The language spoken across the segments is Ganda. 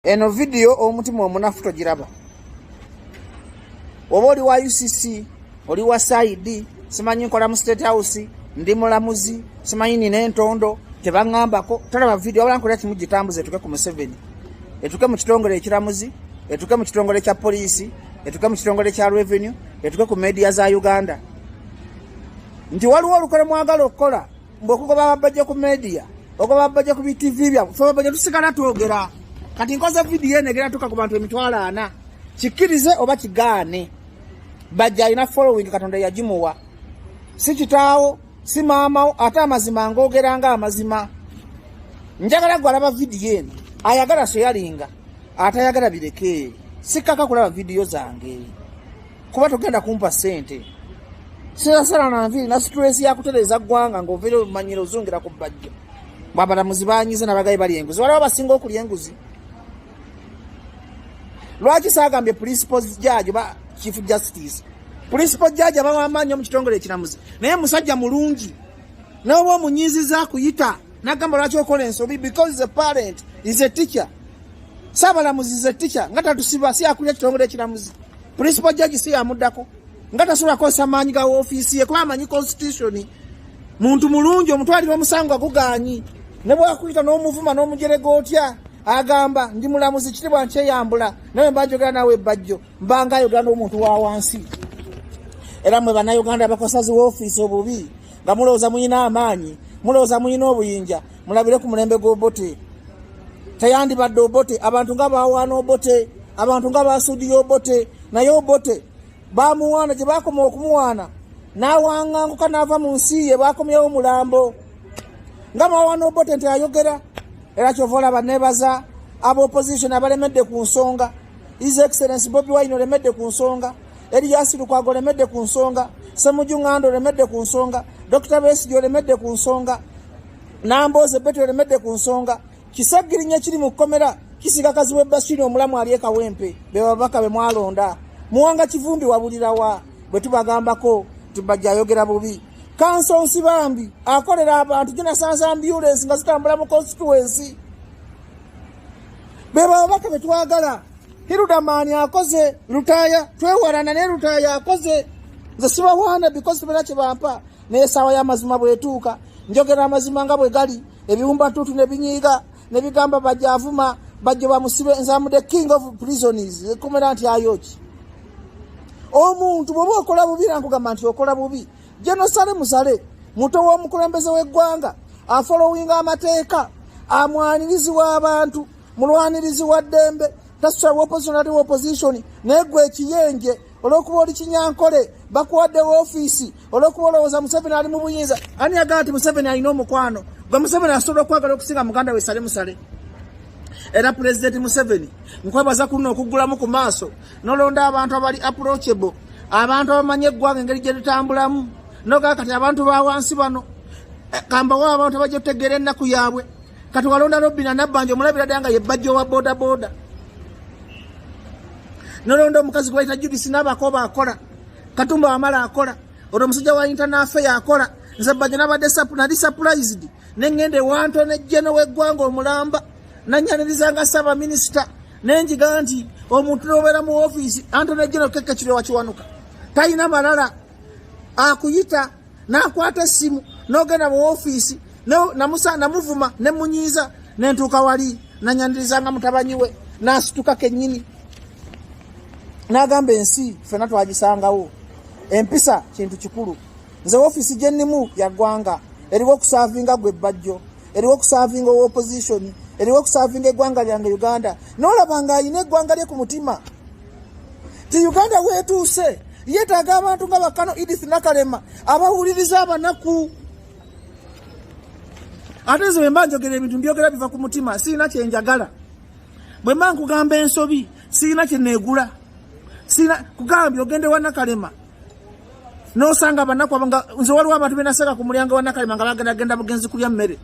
eno vidiyo omutima omunafu togiraba oba oli wa ucc oli wa saidi simanyi nkola mu state house ndi mulamuzi simanyi nina entondo tebaŋambako tolaba vidiyo wabula nkolera kimu gitambuza etuke ku museveni etuke mu kitongole ekiramuzi etuke mu kitongole kya poliisi etuke mu kitongole kya revenue etuke ku media za uganda nti waliwo olukole mwagala okukola mbu okugoba babajja ku media okugoba babajja ku bitv byabwe fe babajja tusigala twogera kati nkoze vidiyo eno egera tuka ku bantu emitwalo ana kikkirize oba kigaane bajja alina following katonda yagimuwa si kitaawo si maamawo ate amazima ngoogera nga amazima njagala gwe alaba vidiyo eno ayagala soyalinga atayagala birekeeri sikkaka kulaba vidiyo zange kuba togenda kumpa sente sirasala na nviiri na situlesi yakutereeza ggwanga ng'ovaire omanyira ozungira ku bbajjo bwabalamuzi banyize nabagayi bali enguzi waliwo abasinga okulya enguzi lwaki saagambye principal judge ba chief justice principal judge abawamaanyi omu kitongole ekiramuzi naye musajja mulungi nawe oba omunyiiziza akuyita nagamba lwaki okola ensobi because is a parent is a teacher saabalamuzi is a teacher nga tatusiba si akulira kitongole ekiramuzi Principal Judge si yamuddako nga tasobola kukozesa maanyi ga ofiisi ye kuba amanyi constitution muntu mulungi omutwalira omusango agugaanyi ne bwakuyita n'omuvuma n'omujerega otya agamba ndi mulamuzi kitibwa nkyeyambula naye mba njogera naawe ebbajjo mbanga ayogera n'omuntu wa wansi era mwe bannayuganda abakosazi woofiisi obubi nga mulowooza mulina amaanyi mulowooza mulina obuyinja mulabire ku mulembe gw'obote teyandibadde obote abantu nga bawaana obote abantu nga basuudiya obote naye obote bamuwaana gye bakoma okumuwaana n'awanganguka n'ava mu nsi ye bakomyewo mulambo nga bawaana obote nti ayogera era kyova olaba nebaza aba opposition abalemedde ku nsonga his excellence bobi wine olemedde ku nsonga eriyasirukwaga olemedde ku nsonga semujunganda olemedde ku nsonga dokita besigi olemedde ku nsonga Nambooze Betty olemedde ku nsonga kisagirinya kiri mu kkomera kisiga kazi we Bashiri omulamu ali ekawempe be babaka be mwalonda muwanga kivumbi wabulirawa bwe tubagambako tubajja ayogera bubi kanso nsibambi akolera abantu ginasanza ambulensi nga zitambula mu constituensi be babaka be twagala hirudamaani akoze lutaaya twewalana ne lutaaya akoze nze sibawaana bikozi tebera kye bampa naye esaawa y'amazima bwetuuka njogera amazima nga bwe gali ebiwumbatuutu ne binyiiga ne bigamba bajja avuma bajja bamusibe nzamude king of prisons ekomera nti ayoki omuntu bwoba okola bubi nankugamba nti okola bubi jenosale musale muto w'omukulembeze w'eggwanga afolowinga amateeka amwanirizi w'abantu mulwanirizi wa ddembe tasitula woposonali wopositioni naye gwe ekiyenje olwokuba oli kinyankole bakuwaddewo ofiisi olwokuba olowooza museveni ali mu buyinza ani yagamba nti museveni alina omukwano gwe museveni asobola okwagala okusinga muganda we sale musale era pulezidenti museveni nkwebaza kulina okuggulamu ku maaso nolonda abantu abali approachable abantu abamanyi eggwanga engeri gye litambulamu nogaa kati abantu ba wansi bano eh, kambawo abantu abajja otegeera ennaku yaabwe kati walonda robina nabbanja omulabira ddala nga ye bbajja owa bodaboda nolonda omukazi gwe bayita judisi naabakoba akola katumba wamala akola olwo omusajja wa intanafeyo akola nze bbanja nabadde nali surprised ne ŋŋenda ewanto nejjeno w'eggwanga omulamba nanyanirizanga ssaabaminisita nenjiga nti omuntu nobeera mu ofiisi anto nejjeno kekekirwe wakiwanuka talina malala akuyita n'akwata essimu n'ogenda mu ofiisi namusa namuvuma ne munyiiza ne ntuuka wali nanyaniriza nga mutabanyi we n'asituka kennyini n'agamba ensi ffena twagisangawo empisa kintu kikulu nze ofiisi gye nnimu ya ggwanga eriwo okusaavinga gwe bbajjo eriwo okusaavinga owa opozisioni eriwo okusaavinga eggwanga lyange uganda n'olaba ng'alina eggwanga lye ku mutima ti uganda wetuuse yetaaga abantu nga bakano edith nakalema abawuliriza abanaku ate nze bwemba njogera ebintu mbyogera biva ku mutima sirina kyenjagala bwemba nkugamba ensobi sirina kyenegula sirina kugambye ogende wanakalema nosanga abanaku abanga nze waliwo abantu benaseka ku mulyango wa nakalema nga bagenda genda bugenzi kulya mmere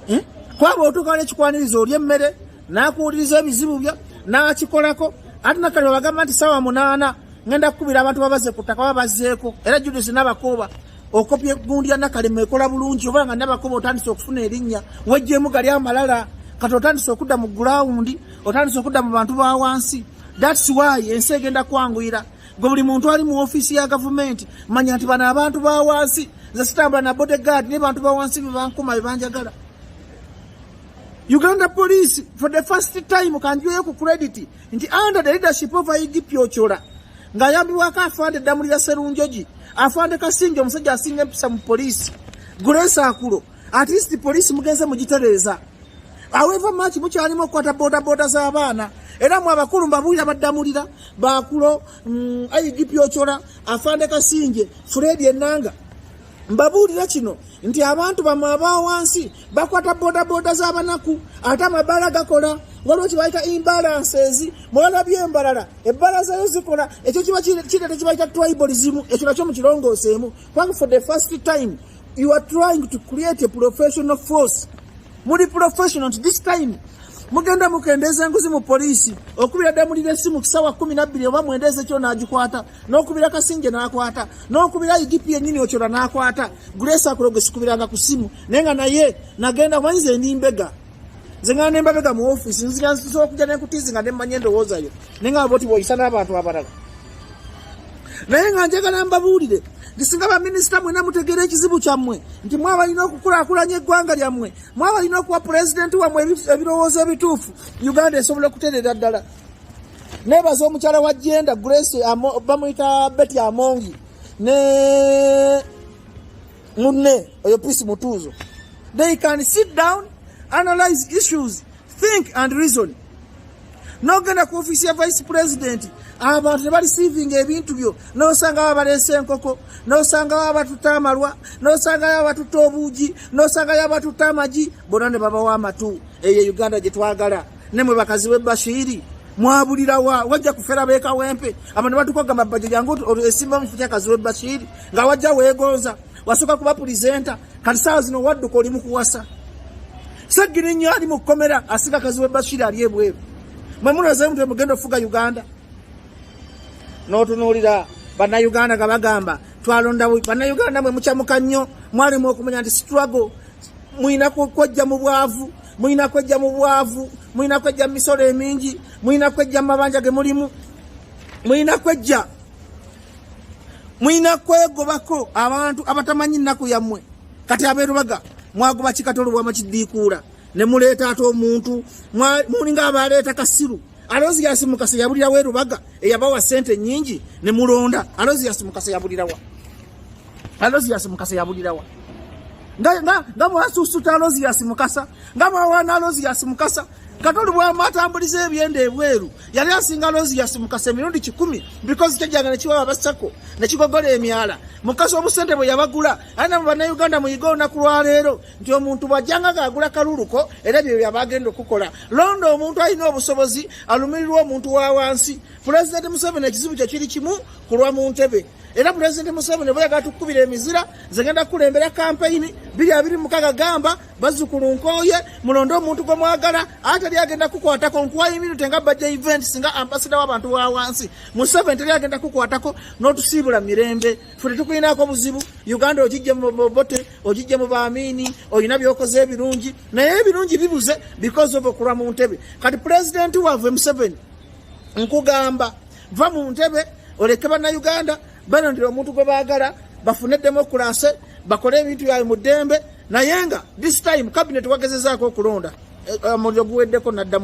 eh? kwaba otuuka nekikwaniriza olya emmere nakuwuliriza ebizibu byo nakikolako ate nakalema bagamba nti sawa munaana ngenda kukubira abantu babaze ku ttaka oba bazeeko era judis nabakuuba okopya egundi ya nakalema ekola bulungi oba nga nabakuuba otandise okufuna erinnya wejjemu gali amalala kati otandise okudda mu gulawundi otandise okudda mu bantu ba wansi That's why ensi egenda kwanguyira gwe buli muntu ali mu ofiisi ya gavumenti manya nti bano abantu ba wansi nze sitambula na bodyguard naye bantu ba wansi bebankuma bebanjagala uganda police for the first time kanjueyo ku credit nti under the leadership of igipyocola ng'ayambibwako afande eddamulira serunjogi afande kasinja omusajja asinga empisa mu poliisi grace akulo At least police mugenze mugitereeza. However much mukyalimu okukwata bodaboda z'abaana era mu abakulu mbabuulira baddamulira bakulo mm, IGP Ochola afande Kasinje Fred Enanga mbabuulira kino nti abantu bamwe aba wansi bakwata bodaboda z'abanaku ate amabaala gakola waliwo kibayita imbalances mwalabye embalala ebbalaza yo zikola ekyo kiba kireta kibayita tribalism ekyo nakyo mukirongooseemu kubanga for the first time You are trying to create a professional force. Muli professional at this time. Mugenda mukendeza nguzi mu police okubira damu lile simu kisawa 12 oba muendeze kyo najikwata nokubira kasinge nakwata nokubira IGP yenyini ochora nakwata Grace akuroge sikubira nga kusimu nenga naye nagenda mwanze ni mbega nze nga nembabega mu office nzira nsobola kujja nekutizi nga nemmanya endowooza yo naye nga boti bwoyisa n'abantu abalala naye nga njagala mbabuulire nti singa baminisita mwena mutegeera ekizibu kyammwe nti mwabalina okukulakulanya eggwanga lyammwe mwabalina okuwa pulezidenti wammwe ebirowoozo ebituufu uganda esobola okuterera ddala nebaza omukyala wa jenda grace bamuyita beti amongi ne Munne oyo Peace Mutuuzo. They can sit down, analyze issues, think and reason. Nogenda ku office ya vice president abantu tebali saving ebintu byo nosanga babaleese enkoko nosanga babatuta amalwa nosanga babatuta obuugi nosanga babatuta amagi bona ne babawa amatu eyo uganda gyetwagala ne mwe bakazi we Bashiri mwabulira wa wajja kufera be kawempe abantu batukoga mabaje jangu esimba mfuta kazi we Bashiri nga wajja wegonza wasoka kuba presenter kati saa zino wadduka oli mu kuwasa sagiri nnyo ali mu komera asiga kazi we Bashiri ali ebweru mwe munoze mutwe mugenda ofuga Uganda n'otunuulira bannayuganda nga bagamba twalonda bannayuganda mwe mukyamuka nnyo mwalimu okumanya nti struggle mulina kwejja mu bwavu mulina kwejja mu bwavu mulina kwejja mu misolo emingi mulina kwejja mu mabanja ge mulimu mulina kwejja mulina kwegobako abantu abatamanyi nnaku yammwe kati abeerubaga mwagoba kikatolo bwama kiddiikuula ne muleeta ate omuntu mulinga abaleeta kasiru alozi yasimukasa yabulirawo erubaga eyabawa sente nyingi ne mulonda alozi yasimukasa yabulirawa Alozias Mukasa yabulirawa nga nga nga mwasusuta Alozias Mukasa nga mwawana Alozias Mukasa katoli bwamwatambuliza ebyenda ebweru yali asinga Alozias Mukasa emirundi kikumi because kyajanga nekiwa abasako nekigogola emyala Mukasa obusente bwe yabagula ana mubana Uganda muyiga olunaku lwaleero nti omuntu bwajanga gaagula kaluluko era bye byabagenda okukola londa omuntu alina obusobozi alumirirwa omuntu wa wansi Pulezidenti Museveni ekizibu kye kiri kimu kulwa mu ntebe era pulezidenti museveni bwe yagala tukukubira emizira nze ngenda kukulembera kampeyini biri abiri mukaga gamba bazukulu nkooye mulonde omuntu gwe mwagala ate teri agenda kukwatako nkuwayo eminute nga bajja events nga ambasada w'abantu wa wansi museveni teri agenda kukwatako n'otusiibula mirembe fe tetukulinako obuzibu uganda ogijje mu bobote ogijje mu baamiini olina byokoze ebirungi naye ebirungi bibuze because of okulwa mu ntebe kati pulezidenti wavwe museveni nkugamba va mu ntebe oleke bannayuganda balondera omuntu gwe baagala bafune demokulase bakole ebintu byabwe mu ddembe naye nga this time kabineeti wagezezaako okulonda eh, eh, omuliro guweddeko naddamu